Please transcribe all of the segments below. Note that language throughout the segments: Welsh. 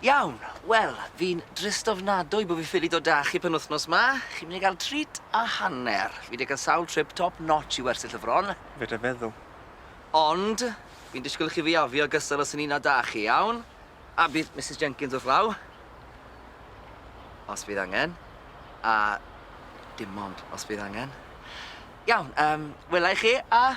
Iawn, wel, fi'n drist ofnadwy bo' fi ffili dod 'da chi penwthnos 'ma. Chi myn' i ga'l treat a hanner. Fi 'di ca'l sawl trip top notch i wersyll y fron. Fedrai feddwl. Ond, fi'n disgwl i chi fiafio gystal os o'n i'n 'na 'da chi, iawn? A bydd Misus Jenkins wrth law. Os bydd angen. A dim ond os bydd angen. Iawn, yym, wela i chi, a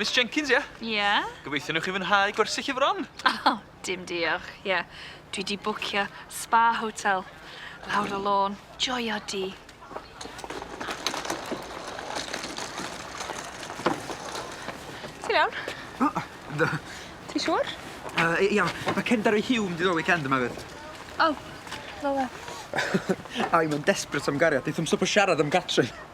Miss Jenkins, ie? Ie? Gobeithio newch chi fwynhau gwersyll y fron. O, dim diolch, ie. Dwi di bwcio spa hotel. Lawr y lôn, joio di. Ti'n iawn? O, do. Ti'n siŵr? Uh, iawn, mae Kendar ei hiwn di ddod weekend yma fyd. O, oh, fel e. Ai, mae'n desbryd am gariad, eithaf am swp o siarad am Catrin.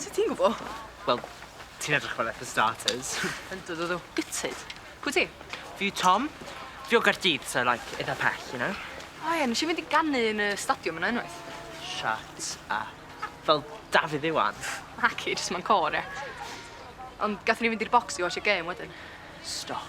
Sut ti'n gwbo? Wel, ti'n edrych fel e for starters. Yndw dw dw. Gutted. Pwy ti? Fi yw Tom. Fi o Gaerdydd so like itha pell, you know? O ie, nesh i fynd i ganu yn y stadiwm yna unwaith. Shut up. Fel Dafydd Iwan? Naci, jyst mewn côr, ie. Ond gathon ni fynd i'r bocs i watsio gêm wedyn. Stop.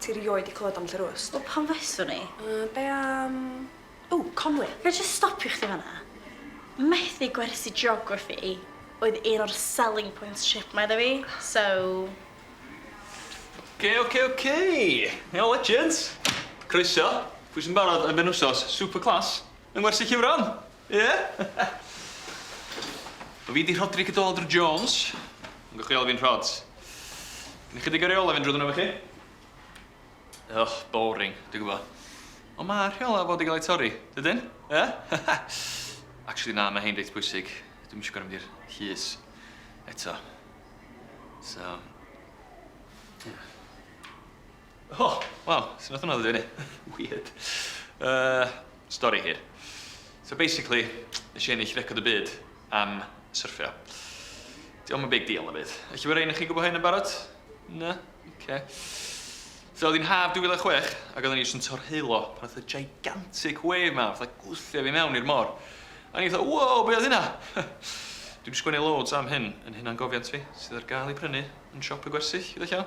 Ti rioed 'di clywed am Lly'r Wst? Wel pam fyswn i? Yy be am... Ww, Conwy! Ga i jyst stopio chdi fan'na? Methu gwersi geography oedd un o'r selling points trip 'ma iddo fi, so... Oce oce oce! Iawn legends! Croeso! Pwy sy'n barod am benwsos super class yng ngwersi Ciwran? Ie? Wel fi 'di Rhodri Cadwaladr Jones, ond gewch chi alw fi'n Rhods. Gen i chydig o reola' fynd drwyddon nw efo chi. Ych, boring, dwi gwbo. Ond ma' rheola' fod i ga'l eu torri, dydyn? Yy? Actually na, ma' hein reit pwysig. Dwi'm isio gor'o' mynd i'r llys eto. So, ie. O, wel, sut nath hwnna ddod i fyny? Weird. Yy, stori hir. So basically, nes i ennill record y byd am syrffio. Dio'm yn big deal na byd. Ella bo' rei o'noch chi'n gwbo hyn yn barod? Na? Ocê. So o'dd 'i'n haf 2006 ag odden ni jyst yn torheullo pan nath y gigantic wave 'ma fatha gwthio fi mewn i'r mor. A o'n i fatha wow be' oedd hynna? Dwi 'di sgwennu loads am hyn yn hunangofiant fi sydd ar ga'l i prynu yn siop y gwersyll gyda llaw.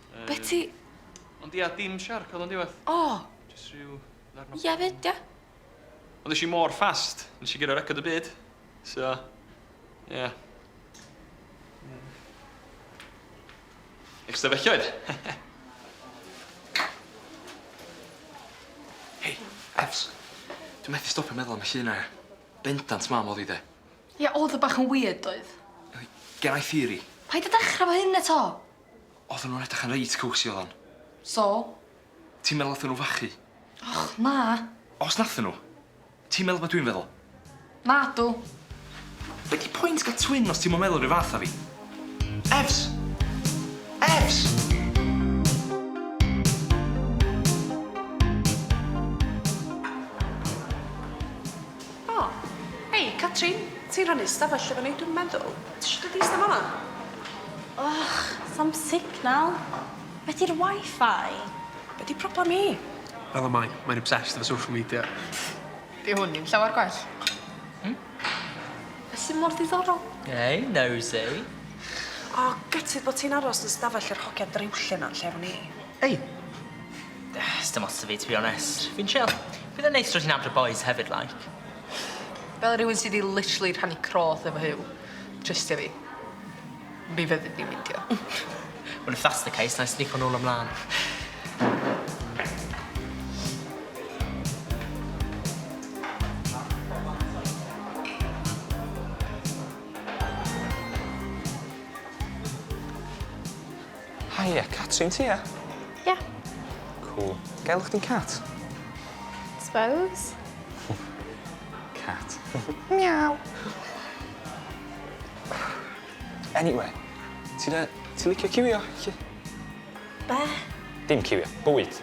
Yym... Beti! Ond ia, dim siarc oedd o'n diwedd. O! Jyst rhyw ddarn o bôn. Ia 'fyd ia? Ond esh i mor fast, nesh i guro record y byd. So, ia. Hmm. Ystafelloedd! Hei, Ef's. Dwi methu stopio meddwl am y llun 'na. Bendant mam o'dd 'i 'de. Ia, o'dd o bach yn wierd doedd? Yli, gen i theory. Paid â dechra 'fo hyn eto! Odden nhw'n edrych yn reit cowsy oddan. So? Ti'n meddwl nathon nhw fachu? Och, na. Os nathon nhw, ti'n meddwl be' dwi'n feddwl? Nadw. Be' 'di point ga'l twin os ti'm yn meddwl 'r un fath â fi? Ef's! Ef's! O! Hei, Catrin! Ti'n rhannu ystafell efo ni, dwi'm yn meddwl. Ti isio dod i ista fan 'ma? Ych, sa'm signal. Be' 'di'r Wi-Fi? Be' 'di problem hi? Fel y mae, mae'n obsessed efo social media. Dyw hwn ddim llawer gwell. Hmm? Be' sy mor ddiddorol? Hei, nosey. O, gutted bo' ti'n aros yn ystafell yr hogia driwlle 'na yn lle efo ni. Hei! Sdim ots 'da fi to be honest. Fi'n chill. Bydd e'n neis dod i nabod y bois hefyd like. Fel rhywun sy 'di literally rhannu croth efo Huw, trystia fi. Mi fyddi di'n meindio. Wel if that's the case 'nai snico nôl a mlan. Haia, Catrin ti ia? Ia. Cŵl. Ga i alw chdi'n Cat? Suppose. Cat. Miaw! Anyway, ti'n yy ti'n licio ciwio, 'lly? Be'? Dim ciwio, bwyd.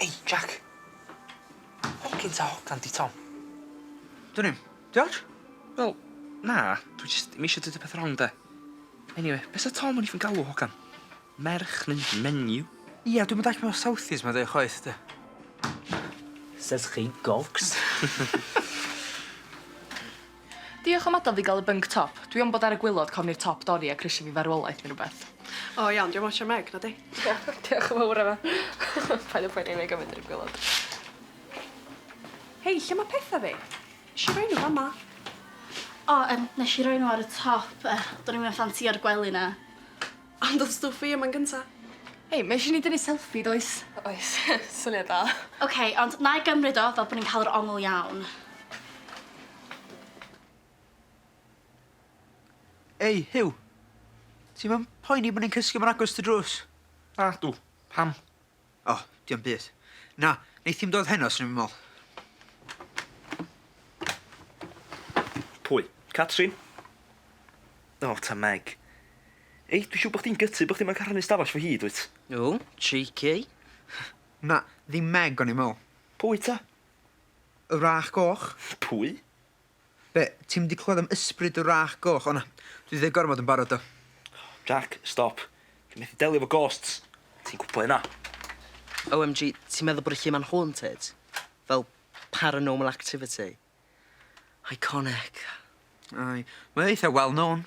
Ei, Jac. Pam gin ta hogan di Tom? Dwn i'm. Di ots? Wel, na, dwi jyst ddim eisiau deud y peth rong de. Eniwe, be' sa Tom yn even galw hogan? Merch neu menyw? Ia, dwi'm yn dallt be' ma' Southies ma'n deu' chwaith de. Says chi gogs. Diolch am adal fi gael y bunk top. Dwi am bod ar y gwilod cofn i'r top dorri ac risio fi farwolaeth ne rwbeth. O iawn, dwi am otsio Meg, na di? Diolch yn fawr Emma. Paid a phoeni nai gofyn i'r gwilod. Hei, lle ma petha fi? Nesh i roi nhw fama. O yym nesh i roi nhw ar y top yy do'n i'm yn ffansïo'r gwely na. Ond o'dd stwff fi yma yn gynta. Hei, ma' isie ni dynnu selfie does? Oes, syniad da. Ok, ond 'nai gymryd o fel bo' ni'n ca'l yr ongl iawn. Ei, Huw! Ti'm yn poeni bo' ni'n cysgu mor agos at y drws? Nadw, pam? O, dio'm byd. Na, neith hi'm dod heno, swn i'm yn me'wl. Pwy? Catrin? O, ta Meg. Ei, dwi siŵr bo' chdi'n gytu bo' chdi moyn ca'l rhannu stafell 'fo hi, dwyt? O, cheeky. Na, ddim Meg o'n i'n me'wl. Pwy ta? Y wrach goch. Pwy? Be? Ti'm 'di clywed am Ysbryd y Wrach Goch? O na, dwi 'di deud gormod yn barod do. Jac, stop. Dwi methu delio efo ghosts. Ti'n gwbo hynna. OMG, ti'n meddwl bod y lle 'ma'n haunted? Fel paranormal activity? Iconic. Aye, mae o eitha well known.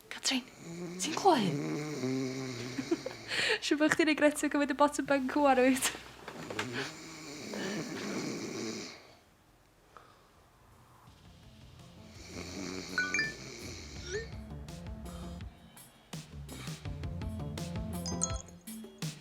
Catrin, ti'n clywed hyn? Siŵr bod chdi'n regretio cymryd y bottom bunk ŵan, wyt?